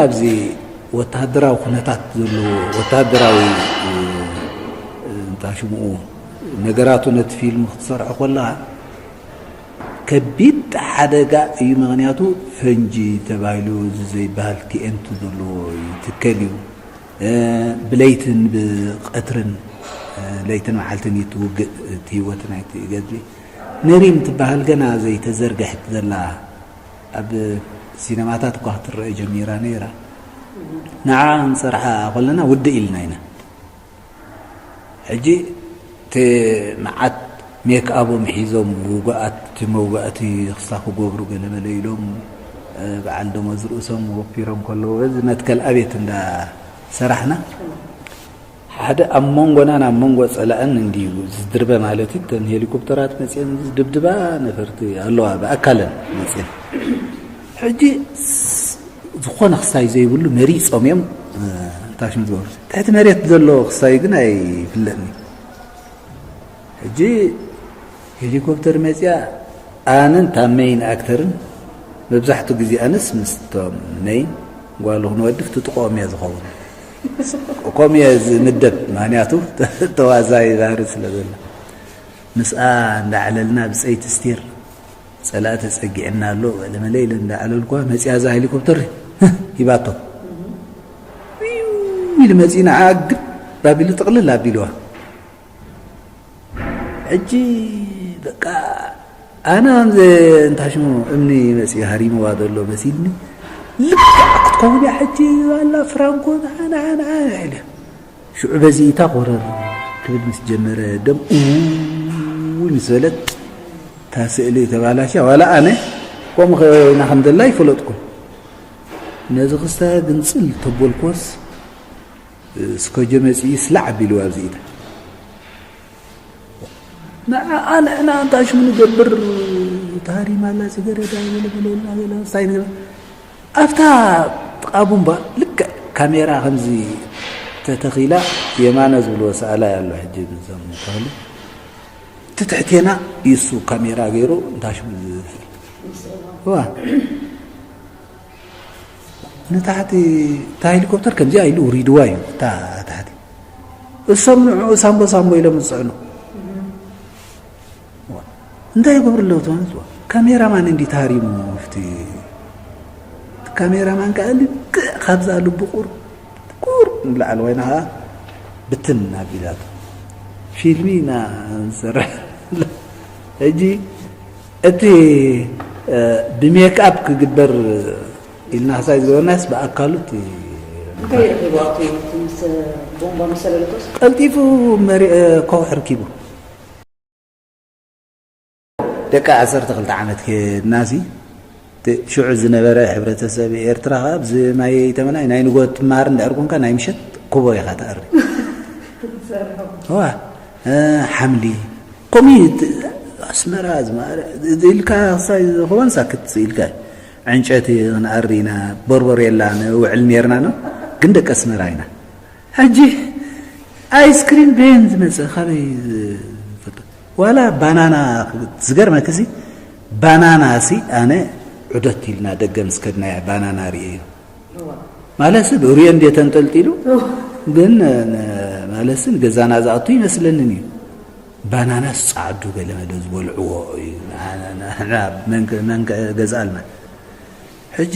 ኣብዚ ወተሃደራዊ ኩነታት ዘለዎ ወተሃደራዊ እንታይ ሽምኡ ነገራቱ ነቲ ፊልም ክትሰርሖ ኮለኻ ከቢድ ሓደጋ እዩ ምክንያቱ ፈንጂ ተባሂሉ እዚ ዘይበሃል ቲኤንቲ ዘለዎ ይትከል እዩ ብለይትን ብቀትርን ለይትን መዓልትን እዩ ትውግእ እቲ ህይወት ናይቲ ገድሊ ንሪም ትበሃል ገና ዘይተዘርግሐት ዘላ ኣብ ሲነማታት እኳ ክትረኤ ጀሚራ ነይራ። ንዓኣ ክንሰርሓ ከለና ውድእ ኢልና ኢና። ሕጂ እቲ መዓት ሜክኣቦም ሒዞም ውጉኣት መውጋእቲ ክሳ ክገብሩ ገለመለ ኢሎም በዓል ደሞዝ ርእሶም ወፊሮም ከለዉ በዚ መትከል ኣቤት እንዳ ሰራሕና ሓደ ኣብ መንጎናን ኣብ መንጎ ጸላእን እንድዩ ዝድርበ ማለት እዩ። እተን ሄሊኮፕተራት መጺኤን ዝድብድባ ነፈርቲ ኣለዋ ብኣካለን መጺኤን ሕጂ ዝኾነ ክሳይ ዘይብሉ መሪጾም እዮም ታሽም ዝበሉ ትሕቲ መሬት ዘሎ ክሳይ ግን ኣይፍለጥኒ ሕጂ ሄሊኮፕተር መፅያ ኣነን እታ መይን ኣክተርን መብዛሕትኡ ግዜ ኣነስ ምስቶም መይን ጓሉ ክንወድፍ ትጥቆኦም እያ ዝኸውን ከምኡ እየ ዝምደብ ምክንያቱ ተዋዛይ ባህሪ ስለ ዘሎ ምስኣ እንዳዕለልና ብፀይቲ ስቲር ፀላእ ተፀጊዕና ኣሎ ለመለ ኢለ እንዳዕለልኳ መፅያ እዛ ሄሊኮፕተር ሂባቶ ኢሉ መፂ ንዓ ግብ ባቢሉ ጥቕልል ኣቢልዋ ሕጂ በቃ ኣነ ኣምዘ እንታሽሙ እምኒ መፅኡ ሃሪምዋ ዘሎ መሲልኒ ልክዕ ክትከውን እያ ሕጂ ኣላ ፍራንኮ ንዓንዓንዓ ኢለ ሽዑ በዚ እታ ኮረር ክብል ምስ ጀመረ ደም እውይ ምስ በለት እታ ስእሊ ተባላሻ ዋላ ኣነ ከምኡ ከና ከም ዘላ ይፈለጥኩ ነዚ ክስተ ግንፅል ተበልኮስ ስከጆ መጺኡ ስላዕ ኣቢልዎ ኣብዚ ኢዳ ንዓኣ ንሕና እንታይ ሽሙ ንገብር ታሃሪማላ ጽገረዳ በለበለና በለስታይ ንገ ኣብታ ጥቃቡምባ ልክ ካሜራ ከምዚ ተተኺላ የማነ ዝብልዎ ሰኣላ ያሎ ሕጂ ዞም ተሉ እቲ ትሕቴና ይሱ ካሜራ ገይሩ እንታሽሙ ዝፍል ንታሕቲ እታ ሄሊኮፕተር ከምዚኣ ኢሉ ውሪድዋ እዩ እታ ታሕቲ እሶም ንዕኡ ሳምቦ ሳምቦ ኢሎም ዝፅዕኑ እንታይ ይገብሩ ኣለዉ ትማለት ካሜራማን እንዲ ተሃሪሙ ፍቲ ካሜራማን ከዓ ልክዕ ካብዛ ልቡ ቁር ቁር ንላዕሊ ወይና ከዓ ብትን ኣቢላቶ ፊልሚ ኢና ንሰርሕ ሕጂ እቲ ብሜክኣፕ ክግበር ኢልና ክሳይ ዝበልናስ ብኣካሉ እቲ እንታይ ረኺቡ ኣብቲ ምስ ቦምባ ምስ ሰለለቶስ ቀልጢፉ ኮኽ ሕርኪቡ ደቂ ዓሰርተ ክልተ ዓመት ከድናሲ እቲ ሽዑ ዝነበረ ሕብረተሰብ ኤርትራ ከኣ ብዚ ማይ ተመናይ ናይ ንጎት ትመሃር እንድሕር ኮንካ ናይ ምሸት ኩቦ ኢኻ ትኣሪ ሓምሊ ኮሚት ኣስመራ ኢልካ ክሳይ ዝኸውን ሳክት ኢልካ ዕንጨቲ ክንኣሪ ኢና ቦርቦር የላ ንውዕል ነርና ግን ደቂ ኣስመራ ኢና ሕጂ ኣይስክሪም በየን ዝመጽእ ካበይ ዝፈልጦ ዋላ ባናና ዝገርመኪ ሲ ባናና ሲ ኣነ ዑደት ኢልና ደገ ምስ ከድናያ ባናና ርእየ እዩ ማለሲ ብእርዮ እንዴ ተንጠልጢሉ ግን ማለሲ ገዛና ዝኣቱ ይመስለንን እዩ ባናናስ ጻዕዱ ገለመለ ዝበልዕዎ እዩ ገዛኣልና ሕጂ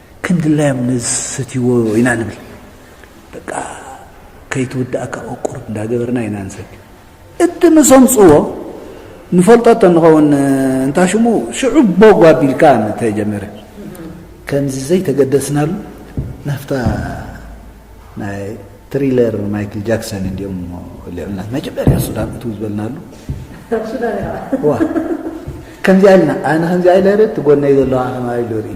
ክንድላዮም ንዝሰትይዎ ኢና ንብል በቃ ከይትውዳእካ ቁርቁር እንዳገበርና ኢና ንሰቲ እቲ ምስ ኣምፅዎ ንፈልጦ እተንኸውን እንታ ሽሙ ሽዑ ቦግ ኣቢልካ እንተጀመረ ከምዚ ዘይተገደስናሉ ናፍታ ናይ ትሪለር ማይክል ጃክሰን እንዲኦም ልዕልና መጀመርያ ሱዳን እትው ዝበልናሉ ከምዚኣ ኢልና ኣነ ከምዚኣ ኢለ ርእ ትጎነይ ዘለዋ ከማ ኢሉ ርኢ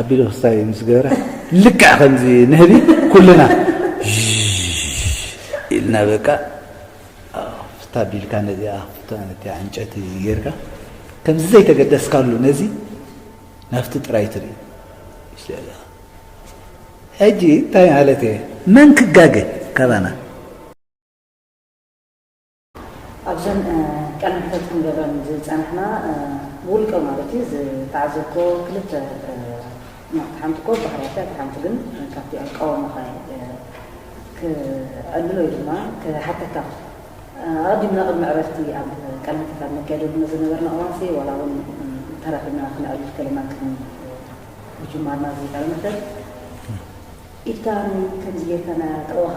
ኣቢሉ ክስታይ ምስ ገበረ ልክዕ ከምዚ ንህቢ ኩልና ኢልና በቃ ፍታ ቢልካ ነዚኣ ፍታ ዕንጨቲ ጌርካ ከምዚ ዘይተገደስካሉ ነዚ ናፍቲ ጥራይ ትርኢ ሕጂ እንታይ ማለት እየ መን ክጋገ ካባና ኣብዘን ቃለ መሕተት ክንገብረን ዝጸናሕና ብውልቀ ማለት እዩ ዝተዓዘብክዎ ክልተ ናብቲ ሓንቲ እኮ ባህርያት እያ እታ ሓንቲ ግን ካብቲ ኣቃውማኻ ክዕልል ወይ ድማ ክሓተካ ኣቐዲምና ቅድሚ ዕረፍቲ ኣብ ቃለ መሕተት ኣብ ነካይደሉ ንዝነበርና እዋንሲ ዋላ እውን ተራኺብና ክንዕልል ከለና ቅድሚ ምጅማርና እዚ ቃለ መሕተት ኢድካ ከምዚ ጌርካ ጥዑኻ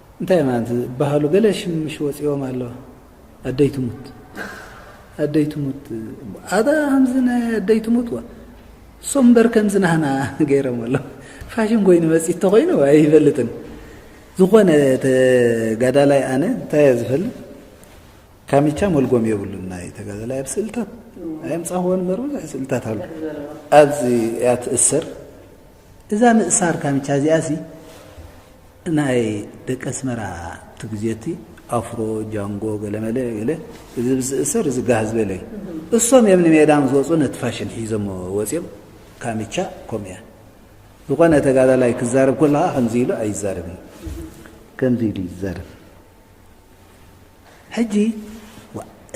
እንታይ ኢማ ዝባሃሉ ገለ ሽምሽ ወጺዎም ኣሎ ኣደይ ትሙት ኣደይ ትሙት ኣታ ከምዚ ናይ ኣደይ ትሙት ዋ ሶም እምበር ከምዚ ናህና ገይሮም ኣሎ ፋሽን ኮይኑ መጺት ተኮይኑ ኣይፈልጥን ዝኾነ ተጋዳላይ ኣነ እንታይ እየ ዝፈልጥ ካሚቻ መልጎም የብሉን ናይ ተጋዳላይ ኣብ ስእልታት ኣየምፃኹዎን እምበር ብዙሕ ስእልታት ኣሎ ኣብዚ እያ ትእሰር እዛ ምእሳር ካምቻ እዚኣሲ ናይ ደቂ ኣስመራ እቲ ግዜቲ ኣፍሮ ጃንጎ ገለመለ ገለ እዚ ብዝእሰር እዚ ጋህ ዝበለ እዩ እሶም እዮም ንሜዳ ምስ ወፁ ነቲ ፋሽን ሒዞሞ ወፂኦም ካምቻ ከምኡ እያ ዝኾነ ተጋዳላይ ክዛረብ ከለኻ ከምዚ ኢሉ ኣይዛረብን ከምዚ ኢሉ ይዛረብ ሕጂ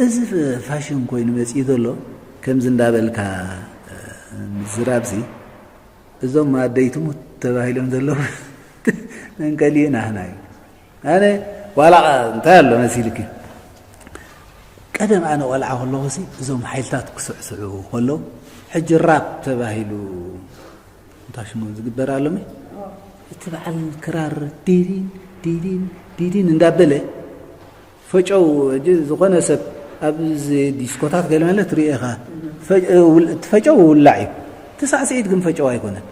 እዚ ፋሽን ኮይኑ መጺኡ ዘሎ ከምዚ እንዳበልካ ምዝራብሲ እዞም ኣደይ ትሙት ተባሂሎም ዘለዉ መንቀሊኡ ናህና እዩ ኣነ ዋላ እንታይ ኣሎ መሲልኪ ቀደም ኣነ ቆልዓ ከለኹሲ እዞም ሓይልታት ክስዕስዑ ከለዉ ሕጂ ራፕ ተባሂሉ እንታይ ሽሞን ዝግበር ኣሎሚ እቲ በዓል ክራር ዲዲን ዲዲን ዲዲን እንዳበለ ፈጨው እጂ ዝኾነ ሰብ ኣብዚ ዲስኮታት ገለ መለ ትርኢ ኢኻ ፈጨው ውላዕ እዩ እቲ ሳዕስዒት ግን ፈጨው ኣይኮነን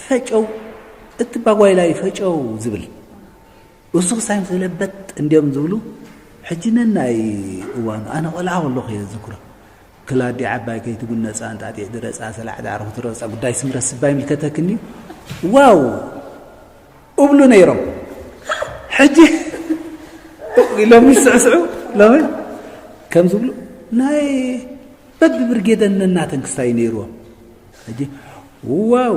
ፈጨው እቲ ባጓይላይ ፈጨው ዝብል እሱ ክሳይ ምስ ለበጥ እንድዮም ዝብሉ ሕጂ ነናይ እዋኑ ኣነ ቆልዓ ከለኹ እየ ዝዝክሮ ክላዲ ዓባይ ከይትጉነፃ እንጣጢዕ ድረፃ ሰላዕ ዳዕሮ ክትረፃ ጉዳይ ስምረት ስባ ይምልከተክኒ ዋው እብሉ ነይሮም ሕጂ ኢሎም ይስዕስዑ ሎሚ ከም ዝብሉ ናይ በብብርጌደን ነናተን ክስታይ ነይርዎም ሕጂ ዋው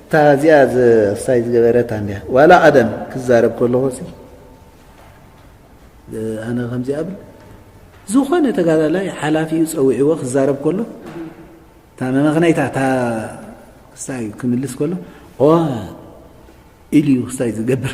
እታ እዚኣ ሳይ ዝገበረት ኣያ ዋላ ቀደም ክዛረብ ከለኹ ኣነ ከምዚ ብ ዝኾነ ተጋዳላይ ሓላፊኡ ፀዊዕዎ ክዛረብ ከሎ እታ መመክነይታ እታ ክሳይ ክምልስ ከሎ ኢልዩ ክሳይ ዝገብር